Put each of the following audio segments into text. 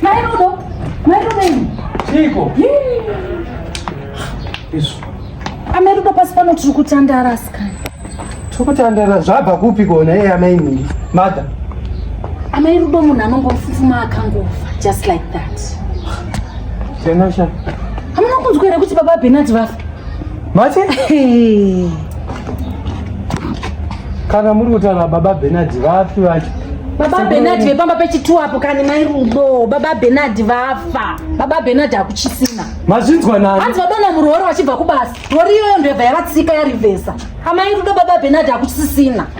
Mairudo, mairudo ini. Chiko. Isu. Amairudo pasi pano tiri kutandara asikana. Tiri kutandara zvabva kupi kona iye amainini. Mother. Amairudo munhu anongofufuma akangofa just like that. Tenasha. Hamuna kunzwa here kuti baba Benard vafa? Mati? Kana muri kutaura baba Bernard vapi vacho? Baba Bernard vepamba pechitu apo kani mai Rudo, baba Bernard vafa. Baba Bernard hakuchisina. Mazvinzwa nani? Hanzi vadona murori vachibva kubasa. Rori iyoyo ndoyabva yavatsika yarivhesa. Amai Rudo baba Bernard hakuchisisina.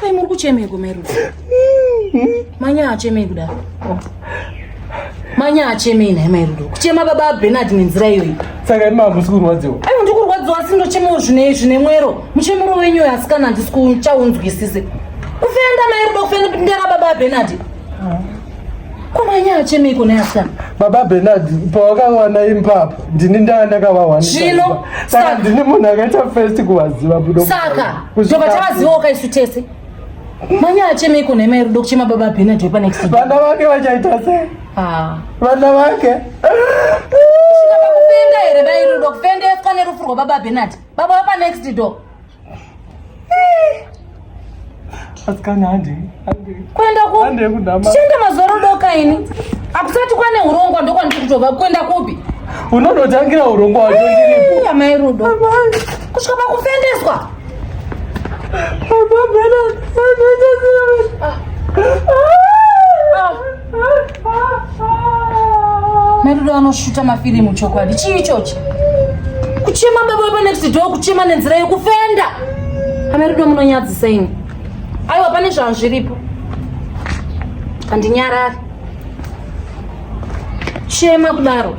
Kai muri kuchemeko Meru? Manya achemei kuda? Manya achemei naye mai Rudo. Kuchema baba Bernard nenzira iyoyi. Saka imi hamusi kurwadziwa. Ai ndiri kurwadziwa asi ndochemewo zvine zvine mwero. Muchemero wenyu uyu asikana handisi kuchaunzwisise. Kufenda mai Rudo kufenda ndera baba Bernard. Ah. kumanyaya chemeiko neasikana baba benard pawakawana imbapa ndini ndaa ndakavawanizvino saka ndini munhu akaita first kuvaziva budo saka tobva tavaziva wakaisu tese manyaya chemeiko nhema iri do kuchema baba benard wepanext vana vake vachaita sei ah. vana vake kufenda here bairi do kufendeswa nerufu rwababa benard baba wepanext door kuenda kuenda mazoro doka ini akusati kwane urongwa ndokwandiri kutova kuenda kupi unonotangira urongwa wacho ndiripo amai rudo kusvika pakufendeswa Madudu anoshuta mafirimu chokwadi. Chii ichochi? Kuchema baba wepa next door kuchema nenzira yekufenda. Amadudu munonyadzisa ini. Aiwa pane zvanhu zviripo. Handinyarari. Chema kudaro.